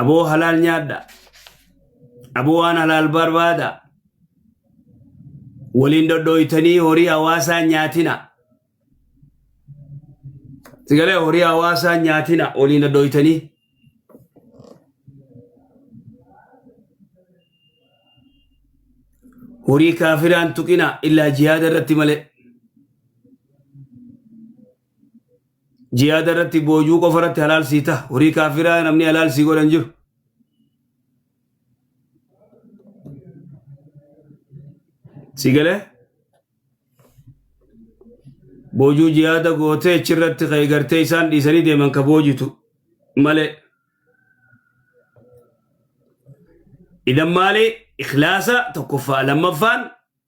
Aboo halaal nyaadha. Aboo waan halaal barbaada. Waliin dhodhooytanii horii hawaasaa nyaatina. Sigalee horii hawaasaa nyaatina waliin dhodhooytanii. Horii kaafiraan tuqina illaa jihaada irratti malee. jihaada irratti boojuu qofa irratti halaal sii taha horii kaafiraa namni halaal sii godhan jiru si galee boojuu jihaada gootee achirratti ka'e gartee isaan dhiisanii deeman ka boojitu malee idan maali ikhlaasa tokkoffaa lammaffaan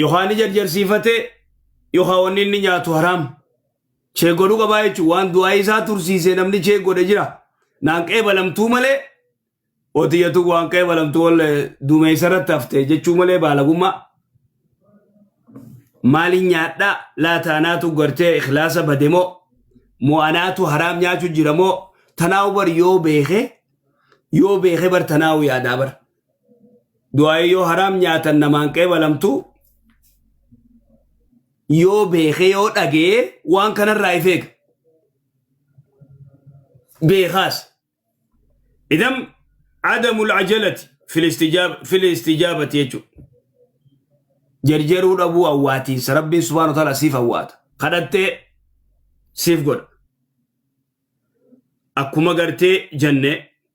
yookaan ni jarjarsiifate yookaan wanni inni nyaatu haraam chee godhu qabaa jechuun waan du'aa isaa tursiisee namni chee godhe jira naan qeebalamtuu malee otiyatu waan qeebalamtuu ol dumeessa irratti hafte jechuu malee baalagummaa maali nyaadha laataanaatu gartee ikhlaasa bade moo moo anaatu haraam nyaachu jira moo tanaawu bar yoo beeke yoo beeke bar tanaawu yaadaa bar du'aa'ii yoo haraam nyaatan namaan qeebalamtu yoo beekee yoo dhagee waan kanarraa if eega beekaas idan adamul ajalati fil istijaab- fil istijaabati jechuudha jarjaruu dhabuu awwaatiinsa rabbiin subhaanahu wa ta'aala siif awwaata kadhattee siif godha akkuma gartee jennee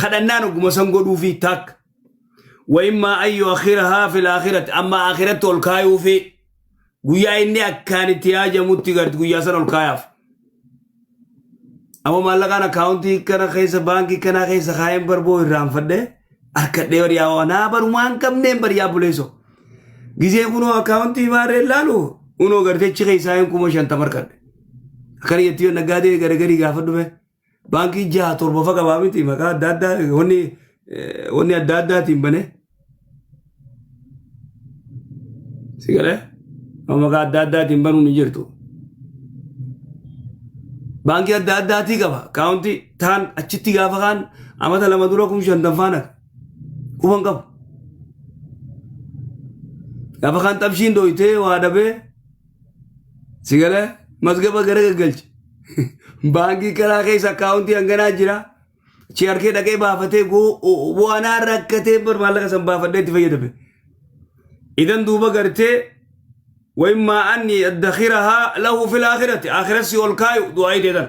kadhannaan ogguma san godhuufi taakka wayimmaa ayyu akhirahaa fil akhiratti amma akhiratti ol kaayuufi guyyaa inni akkaan itti yaajamutti garti guyyaa san ol kaayaaf amma maallaqaan akkaawuntii kana keessa baankii kanaa keessa kaayeen barboo irraanfadhe harkadhee bariyaa waa naa barumaan qabneen bariyaa buleeso gizee kunoo akkaawuntii maarree laalu kunoo gartechi keessaa hin kuma shantama harkadhe akkana jetti yoo naggaadee garagarii gaafa dhufe baankii jaha torba fa qabaa miti maqaa adda addaa wanni eh, wanni adda addaatiin bane si galee amma maqaa adda addaatiin banuu ni jirtu baankii adda addaatii qaba kaawunti taan achitti gaafa kaan amata lama dura kum shantan faana qufan qabu gaafa kaan xabshiin dooytee waa dhabee Si galee mazgaba gara gaggalche. Baankii karaa keessa akkaawuntii hanganaa jira. Chi harkee dhaqee baafatee waanaa rakkatee bar maallaqa san baafadhee itti fayyadame. Idan duuba gartee wayimmaa anni addakirahaa lahu fil akhirati akhiratti ol kaayu du'aa hidheetan.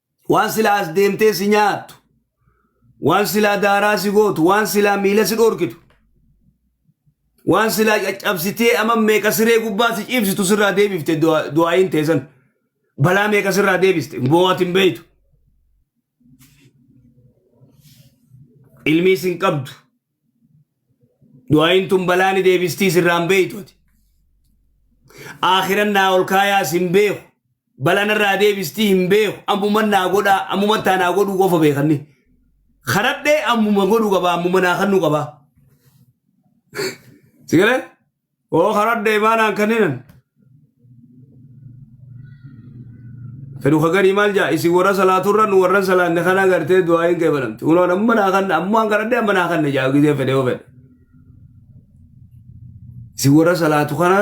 Waan silaa as deemtee si nyaattu, waan silaa daaraa si gootu, waan silaa miila si dhorkitu, waan silaa caccabsitee amma meeqa siree gubbaa si ciibsitu sirraa deebifte du'a- du'aayiin teessan. Balaa meeqa sirraa deebiste boo'ati hin beeytu. Ilmiis hin qabdu. du'aayin tun balaa ni deebistii sirraan beeytu ati aakhiran naa ol kaayaas hin beeku balaa narraa deebistii hin beeku ammuman naa godhaa ammuman taa naa godhuu qofa beekanni karadhee ammuma godhu qaba ammuma naa kannu qaba sigale oo karadda imaanaan kanninan fedhu kagarii maal jaa isin warra salaaturra nu warran salaanne kana agartee du'aa hin qeebalamte unoon amma naa kanna ammoo an karadde amma naa kanna jaa gisee fedhe yoo fedhe isin warra salaatu kana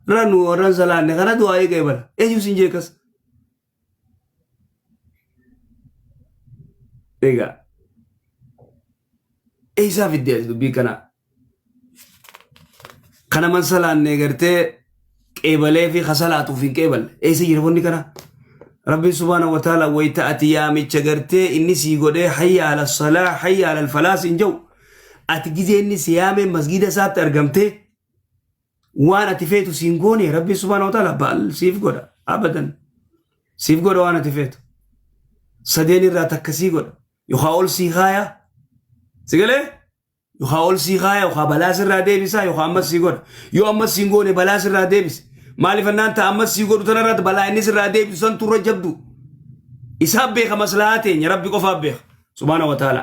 irra nu warran salaanne kana du'aa hin qeebala eenyu sin jeekas Egaa eessaa fiddee ati dubbii kana kana man salaannee gartee qeebalee fi kasalaatuuf hin qeeballe eessa jira wanni kana rabbiin subhaana wa taala wayita ati yaamicha gartee inni sii godhee hayya ala salaa hayya ala falaas hin jau ati gizee inni si yaamee masgiida isaatti argamtee waan ati feetu siin goone rabbiin subhaana wa ta'ala baal siif godha abadan siif godha waan ati feetu sadeen irraa takka sii godha yookaa ol sii kaaya si galee yookaa ol sii kaaya yookaa balaas irraa deebisaa yookaa ammas sii godha yoo ammas siin goone balaas irraa deebise maaliif annaan ta'a ammas sii godhu tanarratti balaa innis irraa deebisu san turra jabdu isaa beeka maslahaa teenya rabbi qofaaf beeka subhaana wa ta'ala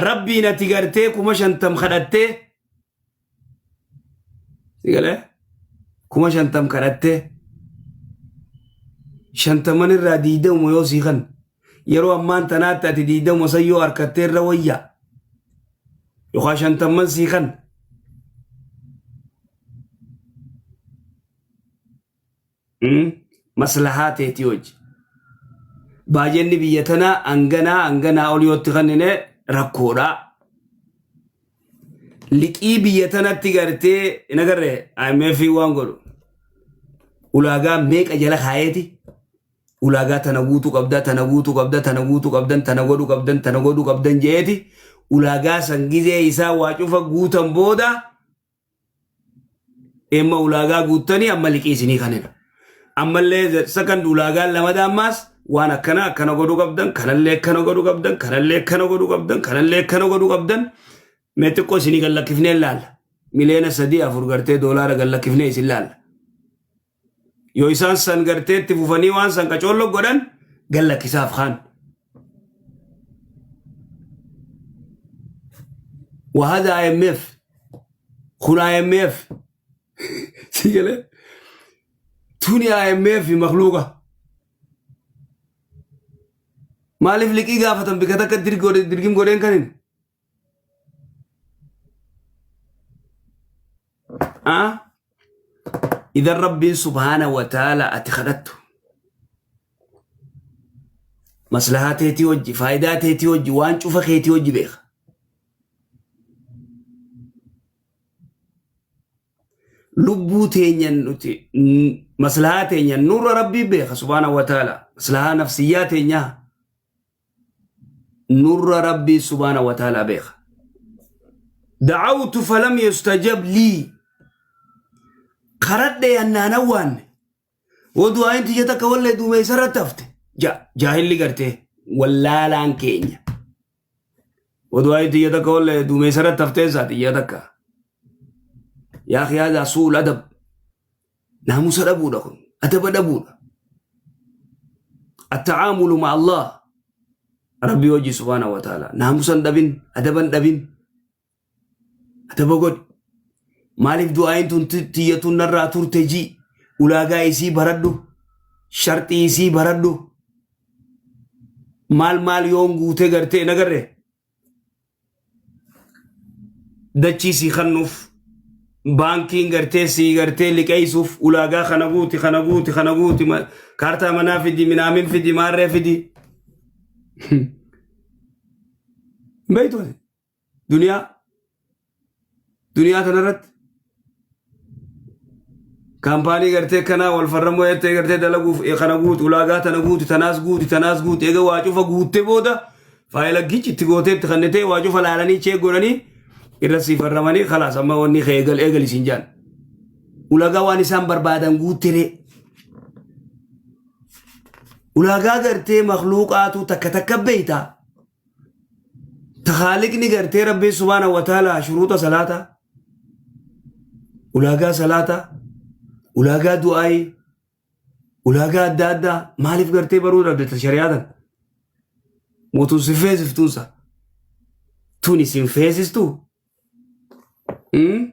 rabbiin ati gartee kuma shantam kadhattee Sigalee kuma shantam kadhattee shantaman irraa diidamuma yoo sii kan yeroo ammaan tanaatti ati diidamuma san yoo harkattee irra wayyaa yookaan shantamman sii kan Hmm? Maslahaa teetii hojji. Baajenni biyya tanaa hanganaa hanganaa ol yootti kennine rakkoodha. Liqii biyya tanatti gartee hin agarre IMF waan godhu. Ulaagaa meeqa jala kaayeeti? Ulaagaa tana guutuu qabda, tana guutuu qabda, tana guutuu qabdan, tana godhuu qabdan, tana godhuu qabdan jeeti. Ulaagaa san gizee isaa waa cufa guutan booda Emma ulaagaa guuttanii amma liqii isinii kanina. Ammallee the second ulaagaan lamada ammaas waan akkana akkana godhuu qabdan, kanallee akkana godhuu qabdan, kanallee akkana godhuu qabdan, kanallee akkana godhuu qabdan. Mee xiqqoo isinii gad lakkifnee laalla. Miliyoona sadii afur gartee doolaara gad lakkifnee isin laalla. Yoo isaan san gartee itti fufanii waan san qacoollo godhan gad lakkisaaf kaan. Wahaza IMF kun IMF si galee tuni IMF makluuqa. Maaliif liqii gaafatan bika takka dirgim godheen kan hin idan rabbiin subhaana wa taala ati kadhattu maslahaa teetii hojji faayidaa teetii hojji waan cufa keetii hojji beeka lubbuu teenyan nuti maslahaa teenyan nurra rabbii beeka subhaana wa taala maslahaa nafsiyyaa teenyaa nurra rabbii subhaana wa ta'ala beeka da'awtu falam yustajab lii karadhe yannaan awwaanne yoo du'aayin tiyya takka wallee duumeysa irratti hafte ja jaahilli gartee wallaalaan keenya yoo du'aayin tiyya takka wallee duumeysa irratti haftee isaa tiyya takka yaa kiyaazaa suul adab Naamusa dhabuudha kun. Adaba dhabuudha. Attacaamulu ma Allah Rabbii wajji subhaanahu wa ta'ala. Naamusa hin dhabin, adaba hin dhabin. Adaba godhi. Maaliif du'aayin tun ti- tiyyatuun narraa turte jii ulaagaa isii baradhu, sharxii isii baradhu. Maal maal yoon guutee gartee hin agarre. dachii sii kannuuf baankiin gartee sii gartee liqeessuuf ulaagaa kana guuti kana guuti kana guuti ma- kaartaa manaa fidi minaamin fidi maarree fidi beektu duniyaa Duniyaa tanarratti kaampaanii gartee kanaa wal farrammoo jettee gartee dalaguuf eh, kana guutu ulaagaa tana guutu tanaas guutu tanaas guutu egaa waa cufa guuttee booda faayila gichi itti gootee itti kannitee waa cufa laalanii cheek godhanii irra sii farramanii kalaas amma wanni kee eegal eegal isin jaan ulaagaa waan isaan barbaadan guuttiree ulaagaa gartee makluuqaatu takka takka beeytaa Tahaaliqni gartee Rabbii Subaana Wataalaa shuruuxa salaataa, ulaagaa salaataa, ulaagaa du'aayii, ulaagaa adda addaa maaliif gartee baruu dhabdata shari'aa tan? Mootuun si feesiftuunsa. Tuni sin feesistu? Hmm?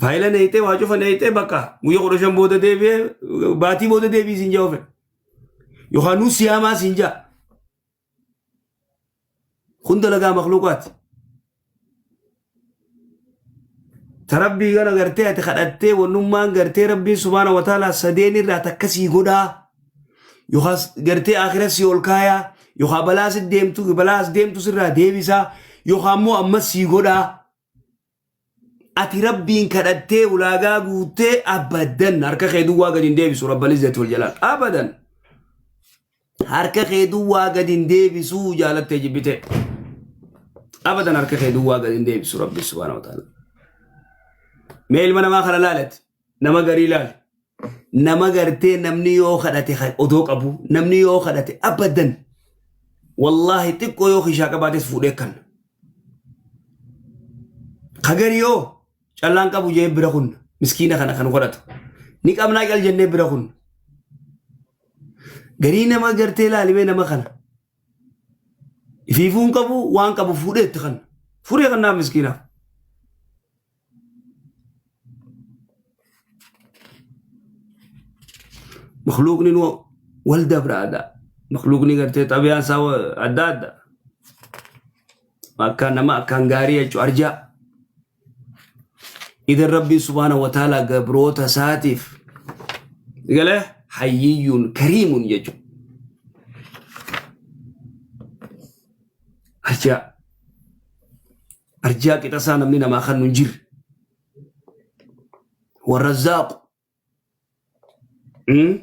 Faayila neeyxee waa cufa neeyxee bakka guyya kudha shan booda deebi'ee baatii booda deebii siin jaa ofen. Yookaan nuu siyaamaa siin jaa. Kun dalagaa makluuqaati. Ta rabbii gana gartee ati kadhattee wannummaan gartee rabbiin subhaana wa ta'ala sadeen irraa takka sii godhaa. Yookaan gartee akira sii ol kaayaa. Yookaan balaa si deemtu balaa as deemtu sirraa deebisaa. Yookaan immoo ammas sii godhaa. ati rabbiin kadhattee ulaagaa guuttee abadan harka kee duwwaa gadi hin deebisu rabbal izzati wal jalaal abadan harka kee duwwaa gadi hin deebisu jaalattee jibbitee abadan harka kee duwwaa gadi hin deebisu rabbi subhaanahu wa ta'ala mee ilma namaa kana laalati nama garii ilaali. Nama gartee namni yoo kadhate ka- odoo qabu namni yoo kadhate abadan wallaahi xiqqoo yoo kishaa qabaates fuudhee kan. Ka garii yoo callaan qabu jee bira kun miskiina kana kan godhatu. Ni qabnaa cal jennee bira kun. Garii nama gartee ilaalimee nama kana. Ifiifuu hin qabu waan qabu fuudhee itti kan. Fuudhee kan naaf miskiinaaf. makluuqni nu wal dabraadha makluuqni gartee xabiyaan isaa wa- adda adda akkaan nama akkaan gaarii jechuu arjaa idan rabbiin subhaana wa ta'aalaa gabroota isaatiif gale hayyiyyuun kariimun jechuu arjaa arjaa qixasaa namni namaa kannu hin jirre warrazzaaqu Mm.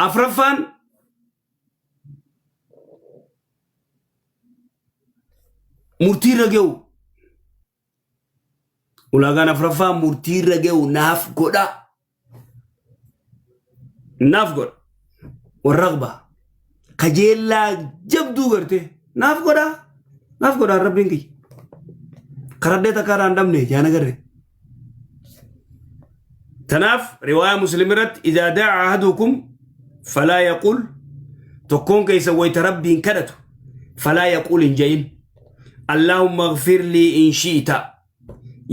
afraffaan murtii irra ga'u Ulaagaan afraffaa murtii irra ga'u naaf godhaa. Naaf godha. Warraqba. Kajeellaa jabduu gartee naaf godhaa. Naaf godhaa rabbiin kiyya. Karaddee takka irraa hin dhabne yaa nagarree. Tanaaf riwaayaa muslim irratti idaa daa'a ahadukum falaa yaqul tokkoon keessa wayita rabbiin kadhatu falaa yaqul hin ja'in. Allaahumma ighfir lii in shi'ita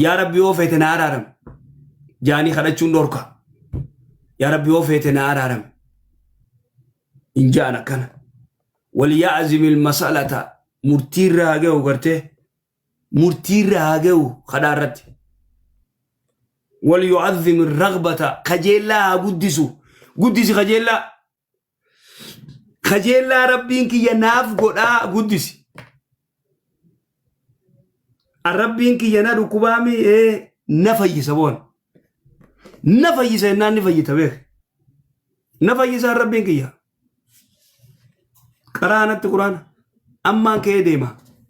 yaa rabbi yoo feete na araaram jaanii kadhachuun dhorka yaa rabbi yoo feete na araaram hin ja'an akkana waliya'zim ilmasalata murtiirra haa ga'u gartee murtiirra haa ga'u kadhaa irratti waliyu'azzim irragbata kajeellaa haa guddisu guddisi kajeellaa kajeellaa rabbiin kiyya naaf godhaa guddisi an rabbiin kiyya na dhukkubaa mi'ee na fayyisa boona na fayyisa innaan ni fayyita beeke na fayyisaan rabbiin kiyya qaraanatti quraana ammaan ka'ee deema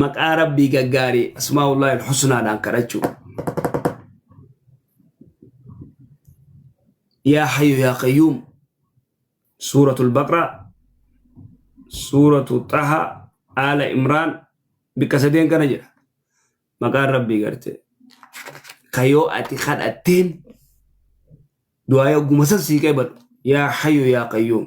maqaa rabbii gaggaarii asmaa'ullahi alhusnaadhaan kadhachuu yaa hayyu yaa qayyuum suuratul baqraa suuratu xaha aala imraan bikka sadeen kana jedha maqaan rabbii garte ka yoo ati kadhatteen du'aa yogguma san sii qeebalu yaa hayyu yaa qayyuum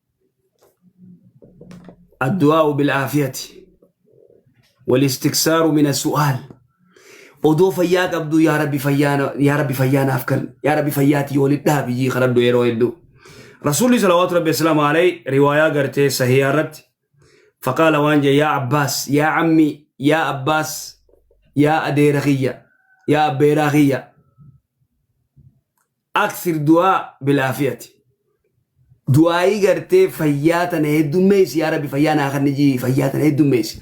addu'aa'u bil'aafiyati walistiksaaru mina su'aal odoo fayyaa qabdu yaa rabbi fayyaa na- yaa rabbi fayyaa naaf kan yaa rabbi fayyaatii waliin dhaabi jii kadhadhu yeroo hedduu rasuulli salawaatu rabbi islaamu alay riwaayaa gartee sahiyaa irratti faqaala waan jee yaa abbaas yaa ammi yaa abbaas yaa adeera kiyya yaa abbeeraa kiyya Akthir du'aa bilaafiyati. Du'aa'ii gartee fayyaa tana heddummeessi yaa rabbi fayyaa naa kanni jii fayyaa tana heddummeessi.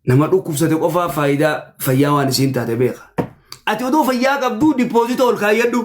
Nama dhukkubsate qofaa faayidaa fayyaa waan isiin taate beeka. Ati odoo fayyaa qabduu dipoozita ol kaayyadhu.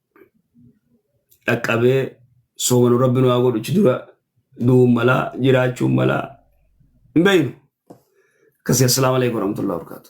dhaqqabee soomanu rabbi nu haa godhu achi dura du'uun malaa jiraachuun malaa hin beeynu akkasii assalaamu alaikum warahmatullahi wabarakaatu